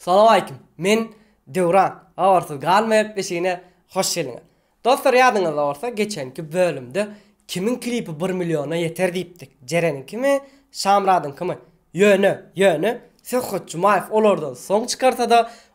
Salowaleýkim. Men Döwran. Habarsyz galmaýak deşigine hoş geldiňiz. Dostlar ýadyňyzda bolsa geçenki bölümde kimiň klipi bir milliona ýeter diýipdik, Jereniňkimi, Şamyradyňkymy? Ýöne, ýöne Söhbet Jumaýew olardan soň çykarsa-da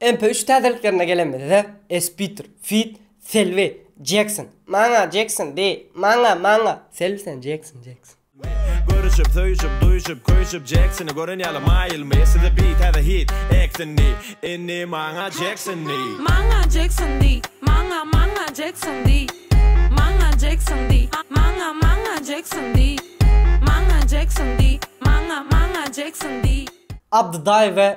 MP üç täzeliklerine gelenimizde, Espitr, Fit, Selbi, Jekson, Maňa, Jekson, Bi, Maňa, Maňa, Selbi sen, Jekson, Jekson. Görüşip, söýşüp, duýşup, köýşüp, Jeksony gören ýaly maýylmy, Size Bi, täze hit, Eksin, Ni, Inni, Maňa, Jekson, Ni. Maňa, Jekson, Di, Maňa, Maňa, Jekson, Di, Maňa, Jekson, Di, Maňa, Maňa, Jekson, Di, Maňa, Jekson, Di, Maňa, Maňa, Jekson, Di. Abdydaýew we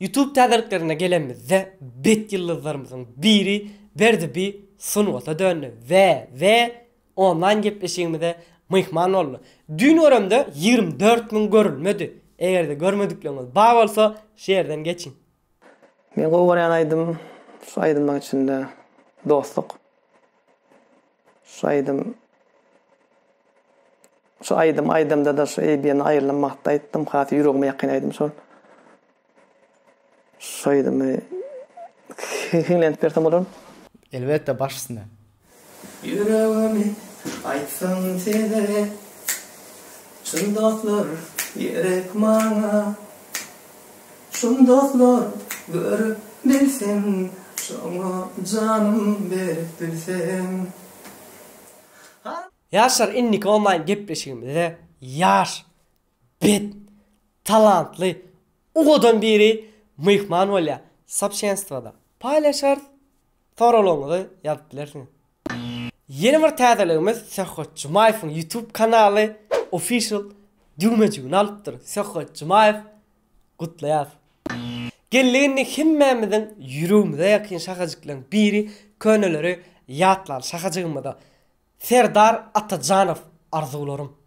Youtube täzeliklerine gelenimizde bet ýyldyzlarymyzyň biri Berdi bi sungata döndi we we onlaýn gepleşigimize myhman boldy. Düýn göremde ýigrimi dört müň görülmedi. Egerde görmedikleriňiz bar bolsa şu ýerden geçiň. Men gowy görýän aýdym şu aýdymlaň içinde dostluk. Şu aýdym Şu aýdym aýdamdada şu eýbýen aýrylan wagtda aýtdym has ýüregime ýakyn aýdym şol. Şu aýdymy hiňlenip bersem bolar. Elbetde baş üstüne. Ýüregimi aýtsam size Çyn dostlar gerek maňa. Çyn dostlar gör bilseň şoňa janym berip bilseň. Ýaşlar indiki onlaýn gepleşigimizde ýaş, bet, talantly ugadan biri myhman bolýar. Soobshenstwoda paýlaşarys, soraglaryňyzy ýazyp bilersiňiz. Ýene bir täzeligimiz Söhbet Jumaýewiň YouTube kanaly official düwmejigini alypdyr. Söhbet Jumaýew gutlaýas. Geldik indi hemmämiziň ýüregimize ýakyn şahajyklaň biri köneleri ýatlaly şahajygymyza Serdar Atajanow arzuwlarym.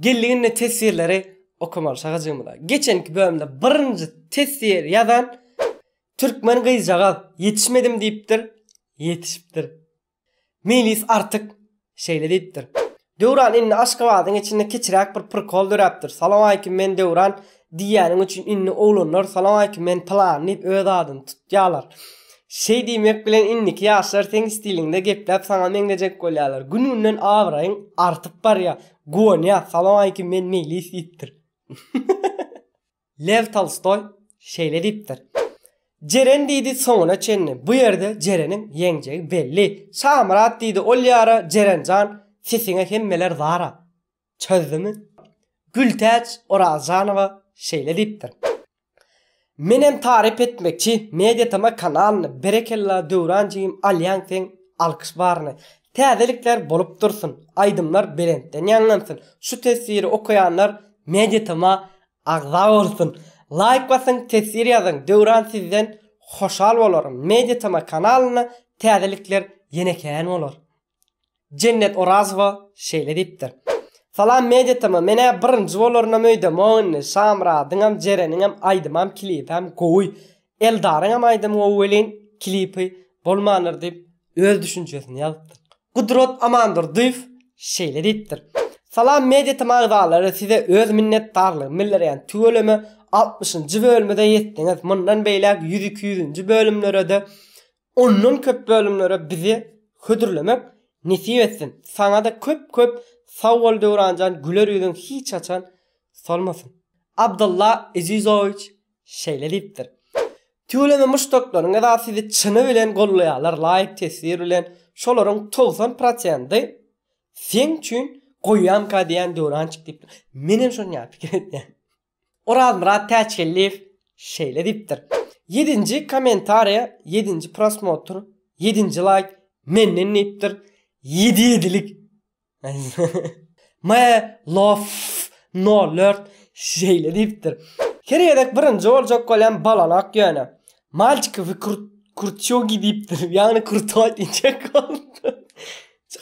Geldiginde teswirleri okamaly şagajygymyza. Geçenki bölümde birinji teswir ýazan türkmen gyzjagaz ýetişmedim diýipdir, ýetişipdir. Meýlis Artyk şeýle diýipdir. Döwran indi Aşgabadyň içinde kiçiräk bir prikol döräpdir. Salowmaýkim men Döwran Diýýäniň üçin indi oglanlar salamaýkim men pylan diýip öz adyny tutýalar. Şeý diýmek bilen indiki ýaşlar seň stiliňde gepläp saňa meňzejek bolýalar. Gün günden abraýyň artyp barýa. Guwanýas salamaýkim men meýlis diýipdir. Lew Tolstoý şeýle diýipdir. Jeren diýdi soňuna çenli. Bu ýerde Jereniň ýeňjegi belli. Şamyrat diýdi ol ýara Jeren jan sesiňe hemmeler zara. Çözdümi? Gültäç Orazjanowa şeýle diýipdir, Menem taryp etmekçi Media TM kanalyny berekella Döwran jigim alýaň seň alkyş baryny. Täzelikler bolup dursun, aýdymlar belentden ýaňlansyn, şu teswiri okaýanlar Media TM-a agza bolsun. Laýk basyň teswir ýazyň Döwran sizden hoşal bolaryn Media TM kanalyna täzelikler ýene kän bolar. Jennet Orazowa şeýle diýipdir. Salam Media TM, men-ä birinji bolarynam öýdemok indi, Şamyradyňam, Jereniňem aýdymam, klipem gowy. Eldaryňam aýdymy gowy welin, klipi bolmandyr diýip, öz düşünjesini ýazypdyr. Gudrat Amandurdyýew şeýle diýipdir. Salam Media TM agzalary, size öz minnetdarlygymy bildirýän, tüweleme altmyşynjy bölüme-de ýetdiňiz, mundan beýläk ýüz-iki ýüzünji bölümlere-de Ondan köp bölümlere bizi hödürlemek nesip etsin. Saňada köp köp sag bol Döwranjan güler ýüzüň hiç haçan solmasyn. Abdylla Ezizowiç şeýle diýipdir. Tüweleme muşdaklaryňyza sizi çyny bilen gollaýarlar laýk teswir bilen şolaryň togsan prosendi seň üçin goýýamka diýýän Döwrançyk diýipdir. Menem şonýa pikir etýän. Orazmyrat Täçgeldiýew şeýle diýipdir, Ýedinji kommentariýa ýedinji prosmotr, ýedinji laýk menden diýipdir, ýedi ýedilik. My Love Nolert şeýle diýipdir, Her gezek birinji boljak bolýan balanak ýöne. Malçiki we kurtýogi diýipdir, ýagny kurtoý diýjek bolupdyr.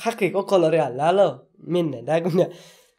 Hakyky okalary ýaly däl-ow, mende-dä günä.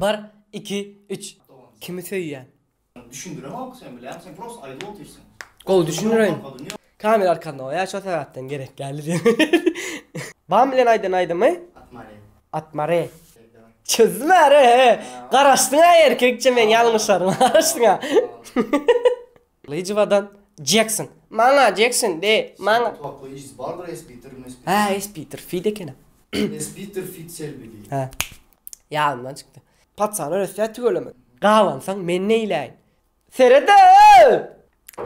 Bar iki üç kimi söýýän. Düşündiremok sen bilen sen prosta aýdyp otyrsyň. Gowy düşündireýin. Kamera arkasynda goýaý şo sebäpden gerek däldi diýen. Bam bilen aýdan aýdymy. Atmare. Atmare. Çözmär e. Garaşdyňa erkekçe men ýalňyşaryn garaşdyňa. Lyžowadan Jekson. Maňa Jekson de, maňa. Toply işsiz bardyr Espiter mi Espiter. Hä Espiter fit ekenem. Espiter fit Selbi diýip. Hä. Ýadymdan çykdy. Paçany ösýä tüweleme. Gabansaň men neýläýin. Seredip!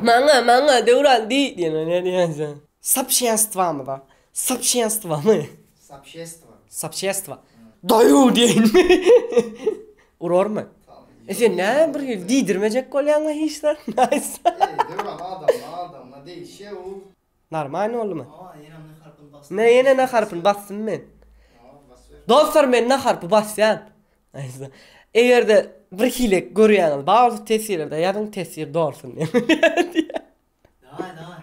Maňa, maňa Döwran diý diýene ne diýersiň? Sapşenstwamyza Sopşenstwamy? Sapşestwa. Sapşestwa. Daýaw diýeýinmi? Urarmy? E sen näme bir diýdirmejek bolýaň-la hiç zat. Naýsa. Eý, döwran adamdan adama degişýä-ow. Normalny boldumy? Aa, ýene N harpyny basdym. Mä ýene N harpyny basdym men. Aa, basyber. Dostlar men N harpy basýan. Naýsa. Eger-de bir hile görýäňiz bar bolsa teswirada ýazyň teswir dolsun. Daway, daway.